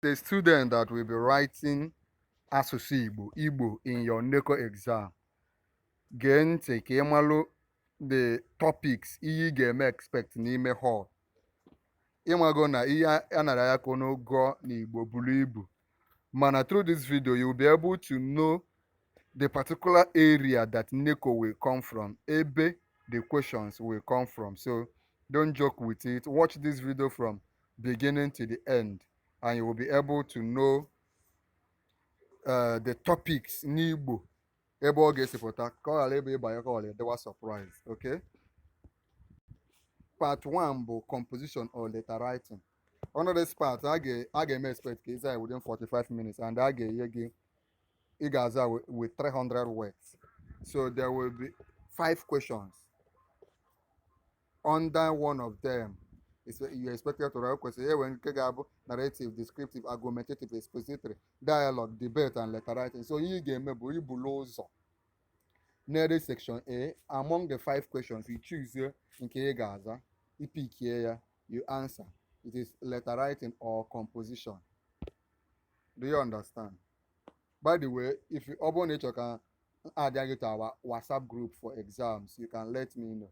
the student that will be writing asụsụ Igbo Igbo in your NECO exam gee ntị ka ị malụ the topics ihe ị ga-eme expect n'ime hall ị mago na ihe a nara ya ka unu gụọ n'Igbo buru ibu mana through this video you will be able to know the particular area that NECO will come from ebe the questions will come from so don't joke with it watch this video from beginning to the end and you will be able to know uh, the topics n'Igbo ebe ọ ga-esi pụta ka ọ ghara ịbụ ị baa ya ka ọ ghara ịdịwa surprise okay part 1 bụ composition or letter writing under this part a ga-eme expect ka ị zaa within 45 minutes and a ga-enye gị ị ga-aza with 300 words so there will be five questions under one of them you're expected to write kwesịrị inwe nke ga-abụ narrative descriptive argumentative expository dialogue debate and letter writing so ihe ị ga-eme bụ ibulu ụzọ nere section a among the five questions you choose nke ị ga-aza ị pickie ya you answer it is letter writing or composition do you understand by the way if you ọ bụrụ na ị chọrọ ka m addịa gị to our whatsapp group for exams you can let me know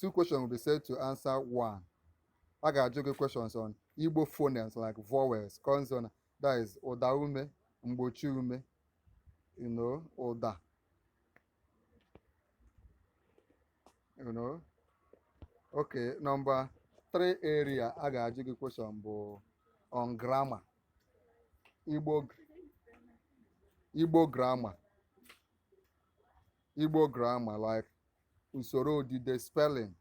two questions will be said to answer one. A ga-ajụ gị questions on Igbo phonemes like vowels, consonant, that is ụda ume, mgbochi ume, you know, ụda. You know? Okay, number three area a ga-ajụ gị question bụ on grammar. Igbo Igbo grammar. Igbo grammar like usoro odide spelling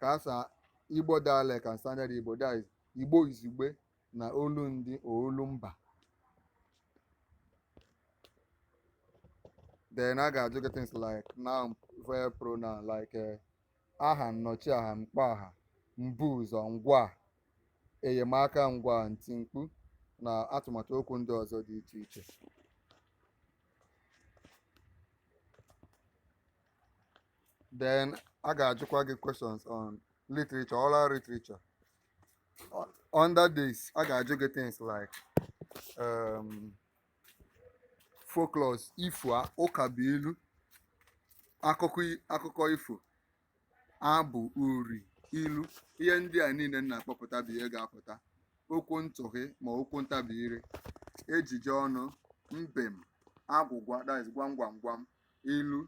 ka asa Igbo dialect and standard Igbo that is Igbo izugbe na olundị or olumba then a ga-ajụ gị things like noun verb pronoun like eh, aha nnọchiaha mkpọaha mbuụzọ ngwaa enyemaka ngwaa ntimkpu na atụmatụ okwu ndị ọzọ dị iche iche then a ga-ajụkwa gị questions on literature oral literature O- under this a ga-ajụ gị things like um, folklores ifo a- ụkabuilu akụkọ i- akụkọ ifo abụ uri ilu ihe ndị a niile m na-akpọpụta bụ ihe ga-apụta okwu ntụhi ma okwu ntabi ire ejije ọnụ mbem agwụgwa that is gwam gwam gwam ilu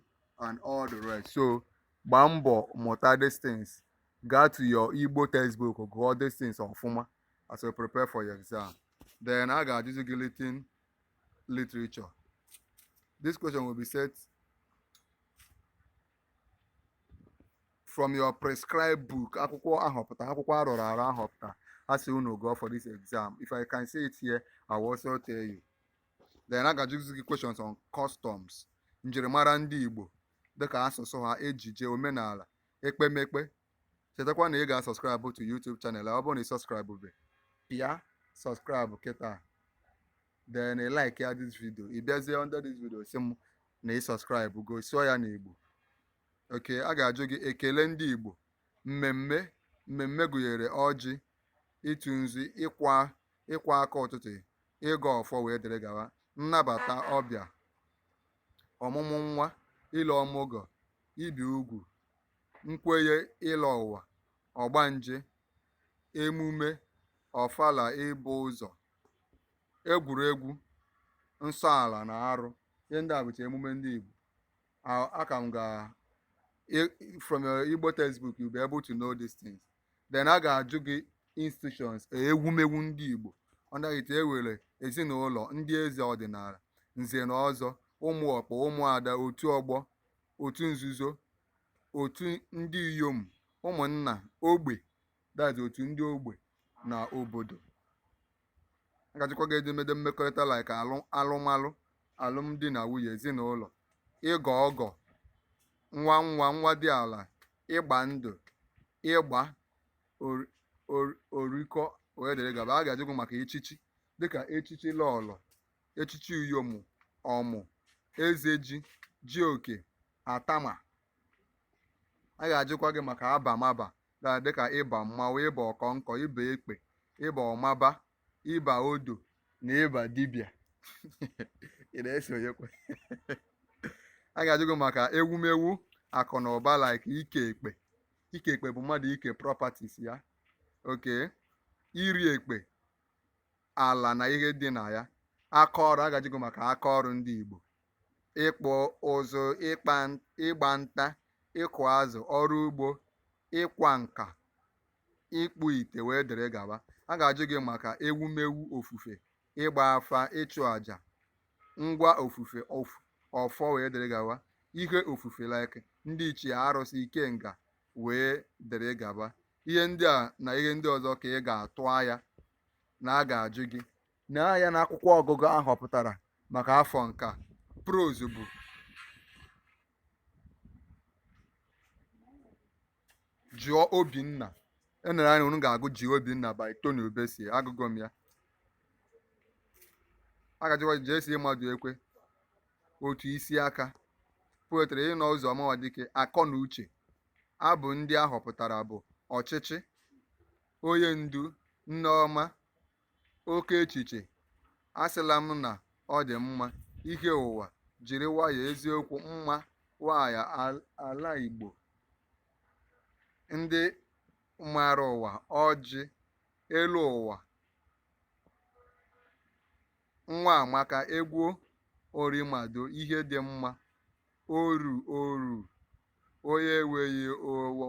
and all the rest so gbaa mbọ mụta these things gaa to your Igbo textbook gụọ these things ọfụma as you prepare for your exam then a ga-ajụzi gị written literature this question will be set from your prescribed book akwụkwọ ahọpụta akwụkwọ arọrọ arọ ahọpụta asị unu gụọ for this exam if i can say it here i will also tell you then a ga-ajụzi gị questions on customs njirimara ndị igbo dịka asụsụ ha ejije omenala ekpemekpe chetakwa na ị ga-asubscribe to youtube channel ọ bụrụ na ị subscribe be pịa subscribe kịta then ị like ya this video ị bịazie under this video sị m na ị subscribe go sụọ ya n'Igbo okay a ga-ajụ gị ekele ndị Igbo mmemme mmemme gụnyere ọjị ịtụ nzu ịkwa ịkwọ aka ụtụtụ ịgọ ọfọ wee dịrị gawa nnabata ọbịa ọmụmụ nwa ile ọmụgọ ibi ugwu nkwenye ịlọ ụwa ọgbanje emume ọfala ịbọ ụzọ egwuregwu nsọ ala na arụ ihe ndị a bụcha emume ndị Igbo A- aka m ga i- from your Igbo textbook you be able to know these things then a ga-ajụ gị institutions ewumewu ndị Igbo under it e nwere ezinụlọ ndị eze ọdịnala nze na ọzọ ụmụ ọkpụ ụmụada otu ọgbọ otu nzuzo otu ndị inyom ụmụnna ogbe that's otu ndị ogbe na obodo a ga-ajụkwa gị edemede mmekọrịta like alụ alụmalụ alụmdi na nwunye ezinụlọ ịgọ ọgọ nwa nwa nwa di ala ịgba ndụ ịgba ori- ori- orikọ wee dịrị gaba a ga-ajụ gị maka echichi dịka echichi lọlọ echichi iyom ọmụ ezeji jioke atama a ga-ajụkwa gị maka abamaba dịka ịba mmanwụ ịba ọkọnkọ ịba ekpe ịba ọmaba ịba odo na ịba dibịa ị na-esonyekwa a ga-ajụ gị maka ewumewu akụ na ụba like ike ekpe ike ekpe bụ mmadụ ike properties ya okay iri ekpe ala na ihe dị na ya aka ọrụ a ga-ajụ gị maka aka ọrụ ndị Igbo ịkpụ ụzụ ịkpa ịgba nta ịkụ azụ ọrụ ugbo ịkwa nka ịkpụ ite wee dịrị gawa a ga-ajụ gị maka ewumewu ofufe ịgba afa ịchụ àjà ngwa ofufe of- ọfọ wee dịrị gawa ihe ofufe like ndị ichie arụsị ikenga wee dịrị gawa ihe ndị a na ihe ndị ọzọ ka ị ga-atụ anya na a ga-ajụ gị na ya na akwụkwọ ọgụgụ a họpụtara maka afọ nke a prose bụ jụọ obinna e nere anya unu ga-agụ jụọ obinna by tony ubesie agụgo m ya a ga-ajụkwa j.c. madụekwe otu mkpịsị aka poetry inno ụzọma nwadike akọ na uche abụ ndị a họpụtara bụ ọchịchị onye ndu nneọma oke echiche asịla m na ọ dị mma ihe ụwa jiri nwayọ eziokwu mma nwanyị al- ala igbo ndị maara ụwa ọjị elu ụwa nwa amaka egwu orimado ihe dị mma oru oru onye enweghị owo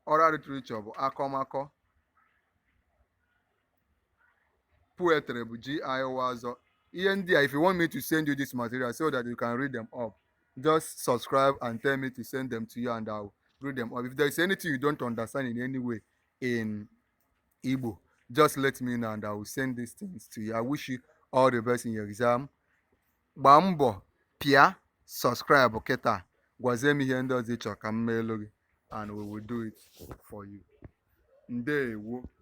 oral literature bụ akọmakọ poetry bụ gi ọzọ ihe ndị a if you want me to send you this material so that you can read them up just subscribe and tell me to send them to you and I will read them up if there is anything you don't understand in any way in Igbo just let me know and I will send these things to you I wish you all the best in your exam gbaa mbọ pịa subscribe kịta gwazie m ihe ndị ọzọ ị chọrọ ka m meelu gị and we will do it for you ndewo